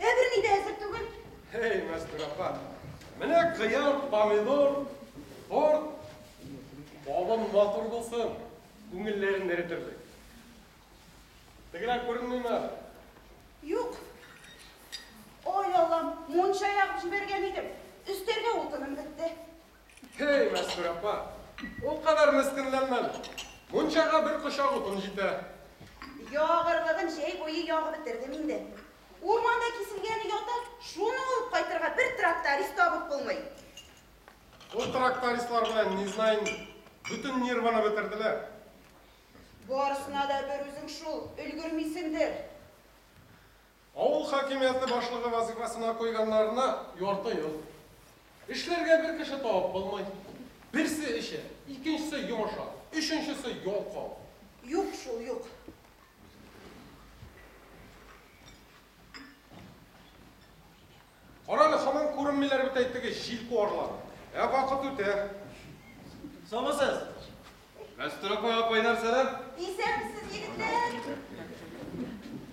Ә берни дә әзер түгел. Эй, Мәстүр апа, менә кыяр, помидор, торт, балым матур булсын, күңелләрен эретербез. Тегеләр күренмиме? Юк. Ой, Аллам, мунча ягып җибәргән идем. Өстәргә утыным бетте. Һей, Мәстүрә апа, ул кадәр мескенләнмәм. Мунчага бер кочак утын җитә. Ягырлыгын җәй буе ягып бетердем инде. Урманда киселгән өй ята, шуны алып кайтырга бер тракторист табып булмый. Ул трактористлар белән, не знаем, бөтен нервыны бетерделәр. Барысына да берүзең шул, өлгермисеңдер. Авыл хакимияте башлыгы вазыйфасына куйганнарына ярты ел. Эшләргә бер кеше табып булмый. Берсе эчә, икенчесе йомыша, өченчесе ялкау. Юк шул, юк. Карале, һаман күренмиләр бит әй теге җил куарлар. Ә вакыт үтә. Саумысыз? Мәстүрә апа, апай нәрсәләр? Исәнмесез, егетләр!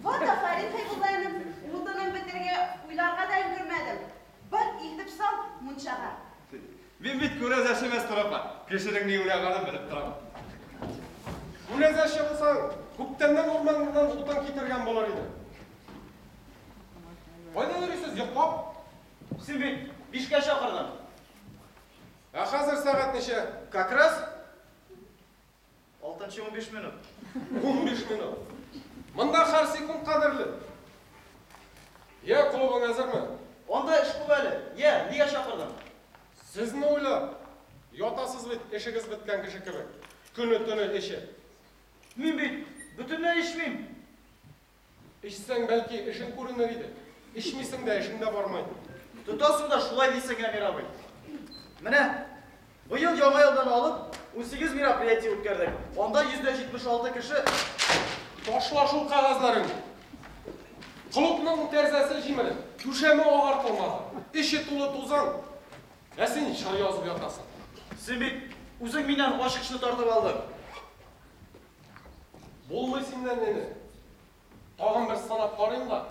Вот афәрин, Хәйбулла энем, утынын бетерергә уйларга да өлгермәдем. Бар, илтеп сал мунчага. Мин бит күрәзәче, Мәстүрә апа. Кешенең ни уйлаганын белеп торам. Күрәзәче булсаң, күптәннән урманнан утын китергән булыр идең. Кайда йөрисез, йоклап? Син бит бишкә чакырдың. Ә хәзер сәгать ничә? Как раз алтынчы унбиш минут. Унбиш минут. Монда һәр секунд кадерле. Йә, клубың әзерме? Анда эш күп әле. Йә, нигә чакырдың? Сезне уйлап. Ятасыз бит, эшегез беткән кеше кебек. Көне-төне эчеп. Мин бит бөтенләй эчмим. Эчсәң, бәлки, эшең күренер иде. Эчмисең дә, эшең дә бармый. Тотасың да шулай дисең, Әмир абый. Менә быел Яңа елдан алып, унсигез мероприятие үткәрдек. Анда йөз дә җитмеш алты кеше Ташла шул кәгазьләреңне. Клубның тәрзәсе җимереп, түшәме агартылмаган, эче тулы тузан, ә син җыр язып ятасың. Син бит үзең миннән ачкычны тартып алдың. Булмый синнән генә. Тагын бер сынап карыйм да,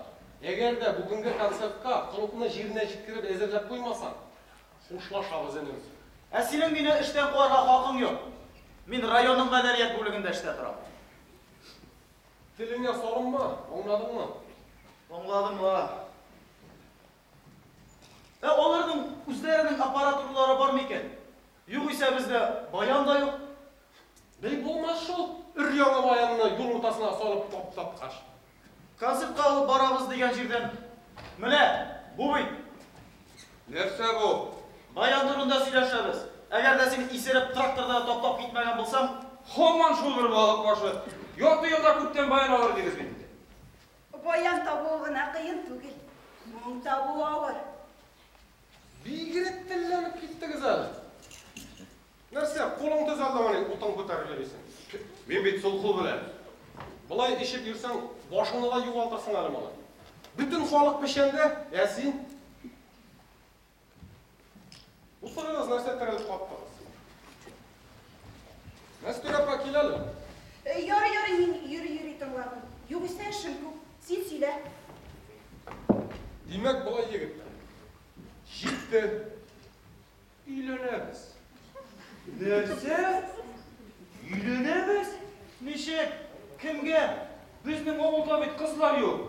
әгәр дә бүгенге концертка клубны җиренә җиткереп әзерләп куймасаң, хушлашабыз, энем. Ә синең мине эштән куарга хакың юк. Мин районның мәдәният бүлегендә эштә торам. Телеңә салынма, аңладыңмы? Аңладым ла. Ә аларның үзләренең аппаратуралары бар микән? Югыйсә бездә баян да юк. Ни булмас шул, өр-яңа баянны юл уртасына салып таптаткач. Концертка алып барабыз дигән җирдән. Менә бу бит. Нәрсә бу? Баян турында сөйләшәбез. Әгәр дә син исереп тракторда таптап китмәгән булсаң. Һаман шул бер балык башы. Ярты елда күптән баян алыр идегез бит инде. Баян табуы гына кыен түгел, моң табуы авыр. Бигрәк телләнеп киттегез әле. Нәрсә, кулың төз алдымыни, утын күтәрергә дисең? Мин бит сул кул белән. Болай эчеп йөрсәң, башыңны да югалтырсың әле, малай. Бөтен халык печәндә, ә син? Утырыгыз, нәрсә терелеп каттыгыз? Мәстүр апа, кил әле. Э, ярый, ярый, мин йөри-йөри тыңлармын. Югыйсә эшем күп. Син сөйлә. Димәк, болай, егетләр. Җитте. Өйләнәбез. Нәрсә? Өйләнәбез? Ничек? Кемгә? Безнең авылда бит кызлар юк.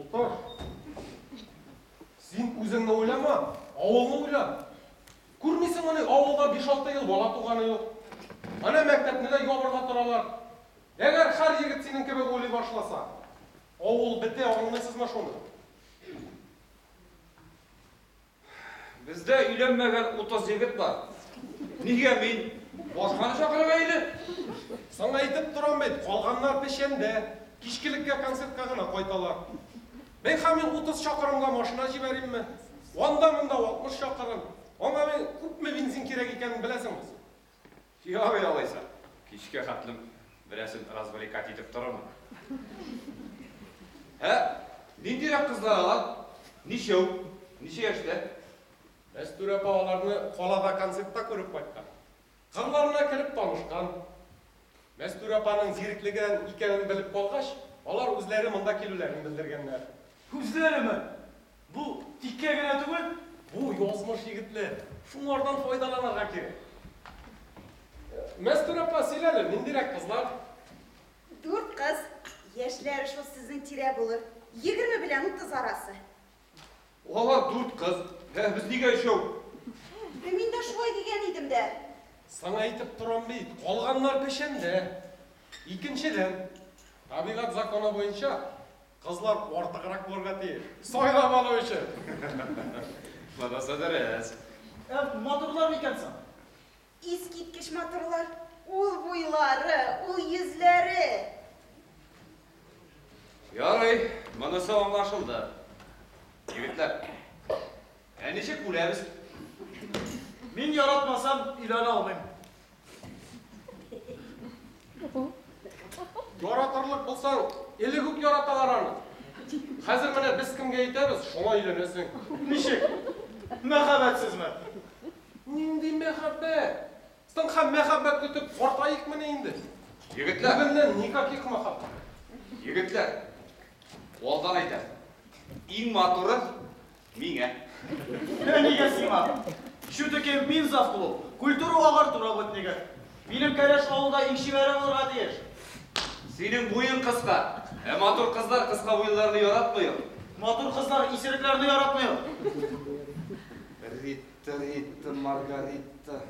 Утыр. Син үзеңне уйлама, авылны уйла. Күрмисеңмени, авылда биш-алты ел бала туганы юк. Әнә мәктәпне дә ябырга торалар. Әгәр һәр егет синең кебек уйлый башласа, авыл бетә, аңлыйсызмы шуны? Бездә өйләнмәгән 30 егет бар. Нигә мин? Башканы чакырып әйли. Саңа әйтеп торам бит, калганнар печәндә, кичкелеккә концертка гына кайталар. Бәйха мин 30 чакырымга машина җибәримме? Анда-монда 60 чакырым. Аңа мин күпме бензин кирәк икәнен беләсеңме? Ярый алайса, кичкә хәтлем берәрсен развлекать итеп торырмын. Ә ниндирәк кызлар алар? Ничәү? Ничә яшьтә? Мәстүрә апа аларны калада концертта күреп кайткан. Кырларына кереп танышкан. Мәстүрә апаның зиреклеген икәнен белеп калгач, алар үзләре монда килүләрен белдергәннәр. Үзләреме? Бу тиккә генә түгел, бу язмыш егетне шуңардан файдаланырга кирәк. Мәстүр апа, сөйлә әле, ниндирәк кызлар? Дүрт кыз, яшьләре шул сезнең тирә булыр, егерме белән утыз арасы. Алар дүрт кыз, ә без нигә өчәү? Ә мин дә шулай дигән идем дә. Саңа әйтеп торам бит, калганнар печәндә. Икенчедән, табигать законы буенча, Кызлар артыграк булырга тиеш. Сайлап алу өчен. Монысы дөрес. Ә матурлар микән соң? Искиткеч матурлар. Ул буйлары, ул йөзләре. Ярый, монысы аңлашылды. Егетләр, ә ничек үләбез? Мин яратмасам, өйләнә алмыйм. Яратырлык булсаң, элек үк яраталар аны. Хәзер менә без кемгә әйтәбез, шуңа өйләнәсең. Ничек? Мәхәббәтсезме? Нинди мәхәббәт? Соң һәм мәхәббәт көтеп картаекмыни инде? Егетләр! Бүгеннән никаких мәхәббәт. Егетләр, алдан әйтәм, иң матуры Миңа. Менә нигә сиңа. Ишү текем мин зав клуб. Культуру агарту работнигы. Минем кәләш авылда иң чибәре булырга тиеш. Синең буең кыска. Ә матур кызлар кыска буйлыларны яратмый ул. Матур кызлар исерекләрне яратмый ул. Рита, Рита, Маргарита.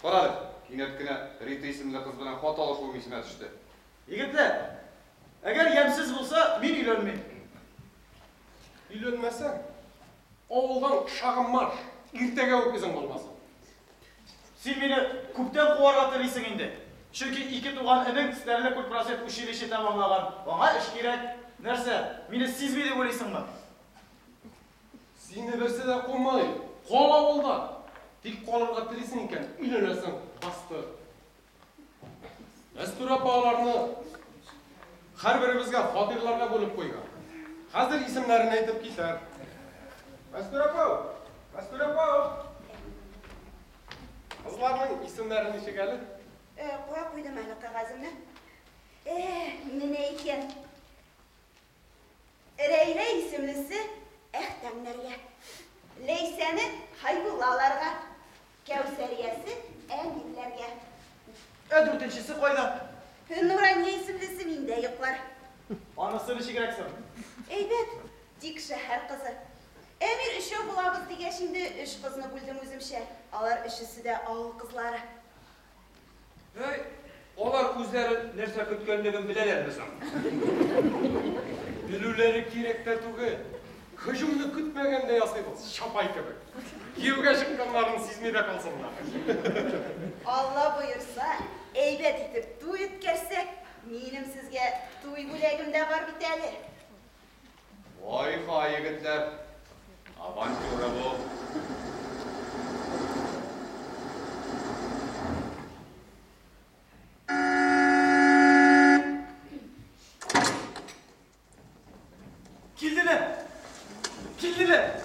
Кара әле, кинәт кенә Рита исемле кыз белән хат алышуым исемә төште. Егетләр, әгәр ямьсез булса, мин өйләнмим. Өйләнмәсәң, авылдан шагы марш, иртәгә үк эзең булмасын. Син мине күптән куарга телисең инде. Чөнки ике туган энең Стәрле күл просвет училище тәмамлаган, аңа эш кирәк. Нәрсә, мине сизми дип уйлыйсыңмы? Сине берсе дә кумый. Кал авылда. Тик калырга телисең икән, өйләнәсең, бастыр. Мәстүр апа аларны һәрберебезгә фатирларга бүлеп куйган. Хәзер исемнәрен әйтеп китәр. Мәстүр апа! Мәстүр апа! Кызларның исемнәрен ничек әле? Э, куя куйдым әле кәгаземне. Э, менә икән. Рәйлә исемлесе Әхтәмнәргә, Ләйсәне Хәйбуллаларга, Кәүсәриясе Әминләргә. Ә дүртенчесе кайда? Нурания исемлесе миндә йоклар. Анысы ничегрәк соң? Әйбәт, тик шәһәр кызы. Әмир өчәү булабыз дигәч инде, өч кызны бүлдем үземчә. Алар өчесе дә авыл кызлары. Әй, алар үзләре нәрсә көткәнлеген беләләрме соң? Белүләре кирәк тә түгел. Һөҗүмне көтмәгәндә ясыйбыз, чапай кебек. Кияүгә чыкканнарын сизми дә калсыннар. Алла боерса, әйбәт итеп туй үткәрсәк, минем сезгә туй бүләгем дә бар бит әле. Вай-фай, егетләр, авантюра бу. Килделәр! Килделәр!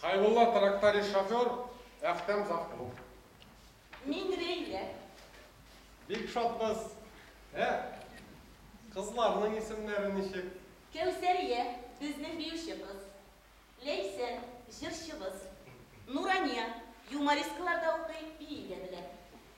Хәйбулла тракторист шофер, Әхтәм завклуб. Мин Рәйлә. Бик шатбыз. Ә кызларның исемнәре ничек? Кәүсәрия, безнең биюче кыз. Ләйсән, җырчыбыз. Нурания, юмористкалар да укый, бии дә белә.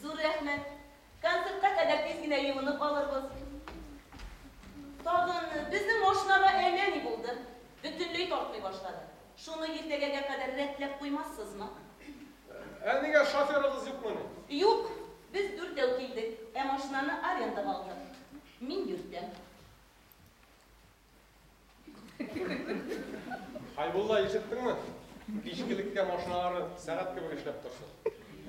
Зур рәхмәт! Концертка кадәр тиз генә юынып алырбыз. Тагын безнең машинага әллә ни булды, бөтенләй тартмый башлады. Шуны иртәгәгә кадәр рәтләп куймассызмы? Ә нигә, шоферыгыз юкмыни? Юк, без дүртәү килдек, ә машинаны арендага алдык. Мин йөртәм. Хәйбулла, ишеттеңме? Кичкелеккә машиналары сәгать кебек эшләп торсын.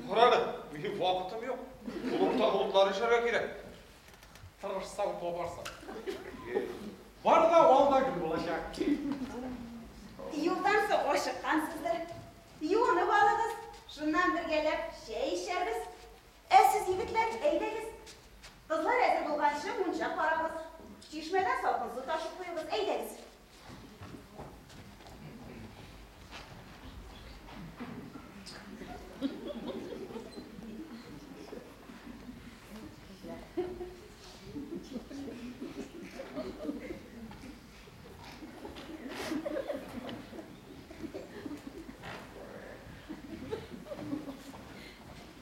Карады, минем вакытым юк. Клубта клублар эшләргә кирәк. Тырышсаң, табарсың. Бар да ал да гөл булачак. Юлдан соң ашыккансыздыр. Юынып алыгыз, шуннан бергәләп чәй эчәрбез. Ә сез, егетләр, әйдәгез. Кызлар әзер булганчы мунча карагыз. Чишмәдән салкын су ташып куегыз. Әйдәгез.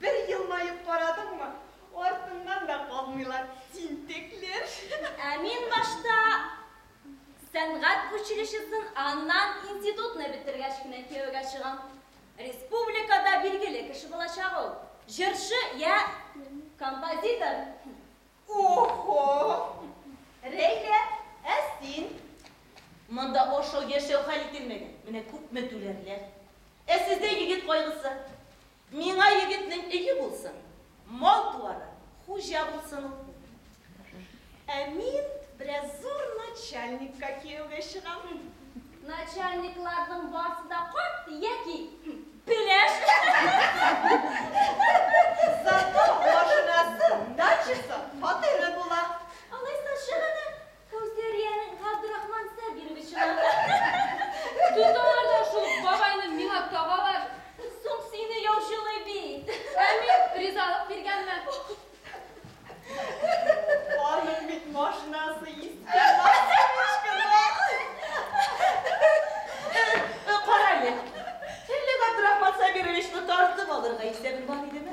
Бер елмаеп карадыңмы, артыңнан да калмыйлар тинтәкләр. Ә мин башта сәнгать училищесын, аннан институтны бетергәч кенә кияүгә чыгам. Республикада билгеле кеше булачак ул. Җырчы йә композитор. О-хо! Рәйлә, ә син? Монда ашау-яшәү хәл ителмәгән, менә күпме түләрләр. Ә сездә егет кайгысы. Миңа егетнең өе булсын, мал-туары, хуҗа булсын ул. Ә мин бераз зур начальникка кияүгә чыгам. Начальникларның барсы да карт яки пеләш. Зато машинасы, дачасы, фатиры була. Алайса чыгыгыз. Кәүсәриянең Габдрахман Сабировичына. Тоталар да шул бабайны миңа тагалар. Соң сине яучылый бит. Ә мин ризалык биргәнмен. Аның бит машинасы иске, Максимыч кызы. Кара әле, әллә Габдрахман Сабировичны тартып алырга исәбең бар идеме?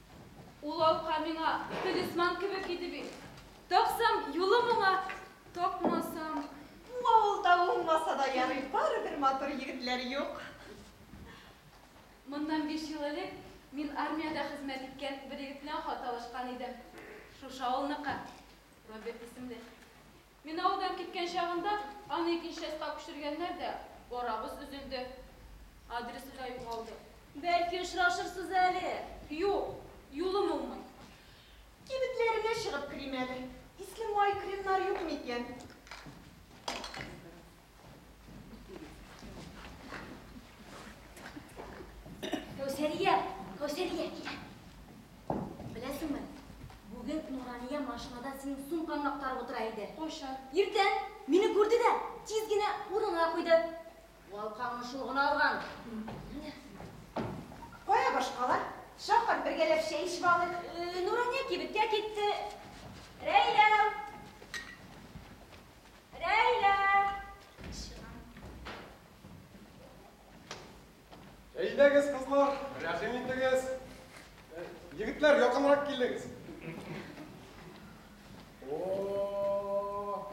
Ул алка миңа талисман кебек иде бит. Тапсам, юлы моңа, тапмасам. Бу авылда булмаса да ярый, барыбер матур егетләр юк. Моннан биш ел элек мин армиядә хезмәт иткән бер егет белән хат алышкан идем. Шушы авылныкы, Роберт исемле. Мин авылдан киткән чагында аны икенче частька күчергәннәр дә, арабыз өзелде. Адресы да югалды. Бәлки очрашырсыз әле. Юк, юлым уңмый. Кибетләренә чыгып керим әле. Иске май кремнары юкмы икән? Кәүсәрия, Кәүсәрия, килә. Беләсеңме, бүген Нурания машинада синең сумкаңны актарып утыра иде. Кайчан? Иртән. Мине күрде дә, тиз генә урынына куйды. Валкаңны шул гына алган. Кая башкалар? Чакыр, бергәләп чәй эчеп алыйк. Э, Нурания кибеткә китте. Рәйлә! Әйдәгез, кызлар, рәхим итегез. Егетләр, якынрак килегез. О,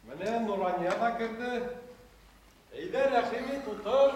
менә Нурания да керде. Әйдә, рәхим ит, утыр.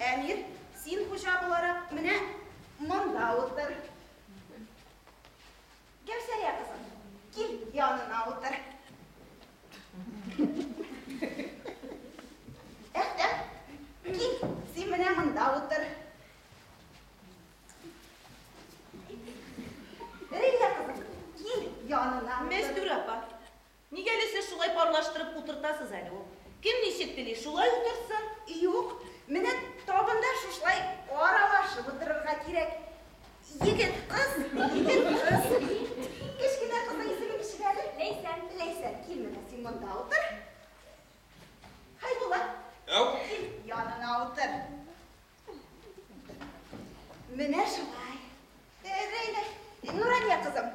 Әмир, син хуҗа буларак, менә монда утыр. Кәүсәрия кызым, кил янына утыр. Әхтәм, кил, син менә монда утыр. Рилә кызым, кил янына утыр. Мәстүр апа, Нигә әле сез шулай парлаштырып утыртасыз әле ул? Кем ничек тели, шулай утыртсын. Юк, менә табында шушылай аралашып утырырга кирәк. Егет, кыз, егет, кыз. Кечкенә кызның исеме ничек әле? Ләйсән. Ләйсән, кил менә син монда утыр. Хәйбулат. Ау. Кил, янына утыр. Менә шулай. Әйдә, әйдә. Нурания кызым,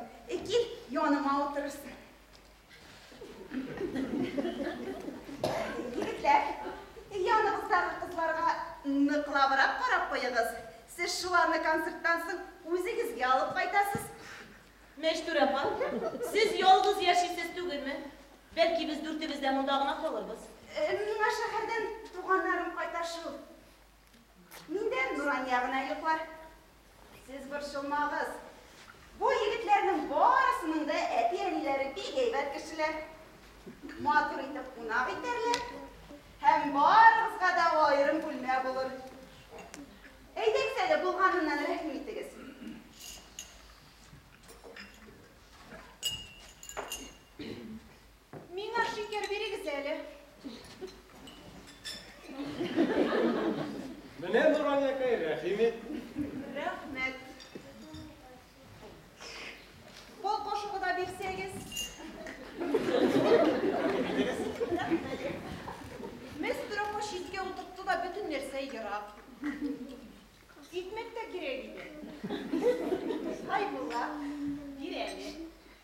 кил, яныма утырырсың. Егетләр, яныбыздагы кызларга ныклабрак карап куегыз. Сез шуларны концерттан соң үзегезгә алып кайтасыз. Мәчтүр апа, сез ялгыз яшисез түгелме? Бәлки без дүртебез дә монда гына калырбыз. Миңа шәһәрдән туганнарым кайта шул. Миндән Нурания гына йоклар. Сез борчылмагыз. Бу егетләрнең барысының да әти-әниләре бик әйбәт кешеләр. Матур итеп кунак итәрләр һәм барыгызга да аерым бүлмә булыр. Әйдәгез әле булганыннан рәхим итегез. Миңа шикәр бирегез әле. Менә Нуранякай, рәхим ит. Рәхмәт. Пол кошыгы да бирсәгез. Мөстрәфа читкә утыртты да бөтен нәрсә ерак. Икмәк тә кирәк иде. Хәйбулла, бир әле.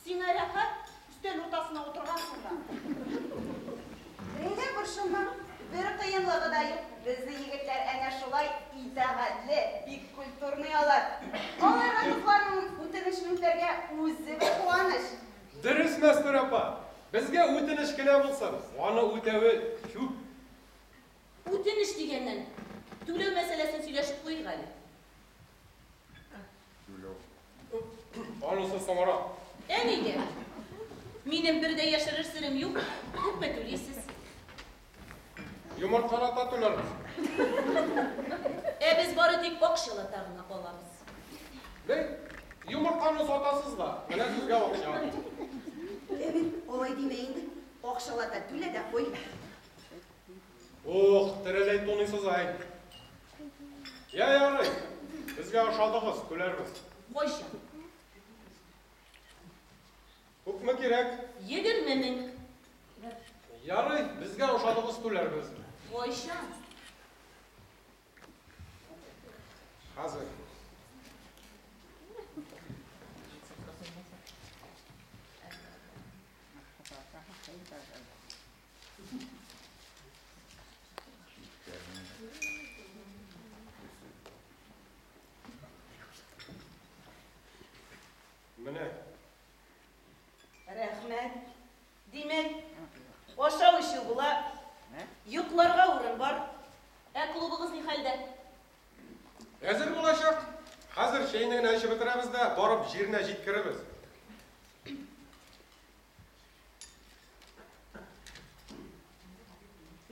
Сиңа рәхәт, өстәл уртасына утыргансың да. Бәйләп борчылма, бер кыенлыгы да юк. Безнең егетләр әнә шулай итагатьле, бик культурный алар. Аларга кызларның үтенечен үтәргә үзе бер куаныч. Дөрес, Мәстүрә апа. Безгә үтенеч кенә булсын, аны үтәве күп. Үтенеч дигәннән, түләү мәсьәләсен сөйләшеп куйыйк әле. Анысы соңрак. Әниге, минем бер дә яшерер серем юк, күпме түлисез? Йомыркалата түләрбез. Ә без бары тик акчалата гына алабыз. Бер йомырканы сатасыз да, менә сезгә акча. Әби, алай димә инде, акчалата түлә дә куй. Ух, тереләй туныйсыз ай. Я ярый, безгә ошадыгыз, көләрбез. Кайчан? Күпме кирәк? Егерме мең. Ярый, безгә ошадыгыз, көләрбез. Кайчан? Хәзер. Менә. Рәхмәт. Димәк, ашау эчү була, йокларга урын бар. Ә клубыгыз ни хәлдә? Әзер булачак. Хәзер чәйне генә эчеп бетерәбез дә, барып җиренә җиткерербез.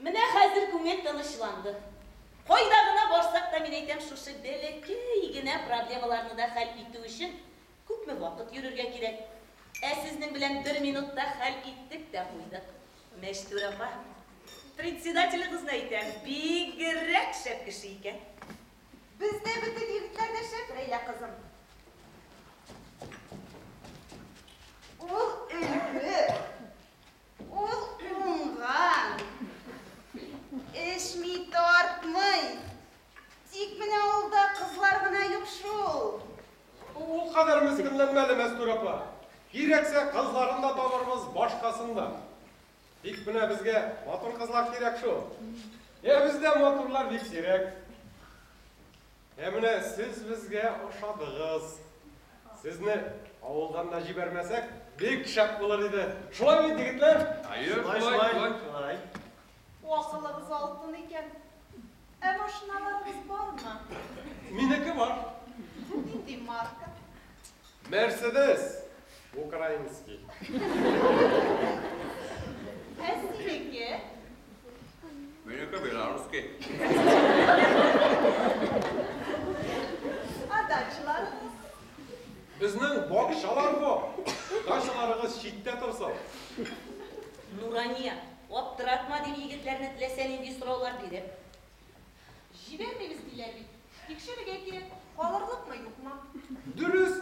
Менә хәзер күңел тынычланды. Кайда гына барсак та, мин әйтәм, шушы бәләкәй генә проблемаларны да хәл итү өчен күпме вакыт йөрергә кирәк. Ә сезнең белән бер минутта хәл иттек тә куйдык. Мәчтүр апа, председателегызны әйтәм, бигрәк шәп кеше икән. Бездә бөтен егетләр дә шәп, Рәйлә кызым. Ул өлге, ул уңган, эчми, тартмый. Тик менә авылда кызлар гына юк шул. Ул кадәр мескенләнмә әле, Мәстүрә апа. Кирәксә, кызларын да табарбыз, башкасын да. Бик менә безгә матур кызлар кирәк шул. Ә бездә матурлар бик сирәк. Ә менә сез безгә ошадыгыз. Сезне авылдан да җибәрмәсәк, бик шәп булыр иде. Шулай бит, егетләр? Әйе, шулай. Акылыгыз алтын икән. Ә машиналарыгыз бармы? Минеке бар. Нинди марка? Мерседес! Украинский. Ә синеке? Минеке белорусский. Ә дачаларыгыз? Безнең бакчалар бу. Дачаларыгыз читтә торсын. Нурания, аптыратма, дип егетләрне теләсә нинди сораулар биреп. Җибәрмибез диләр бит. Тикшерергә кирәк, калырлыкмы, юкмы. Дөрес!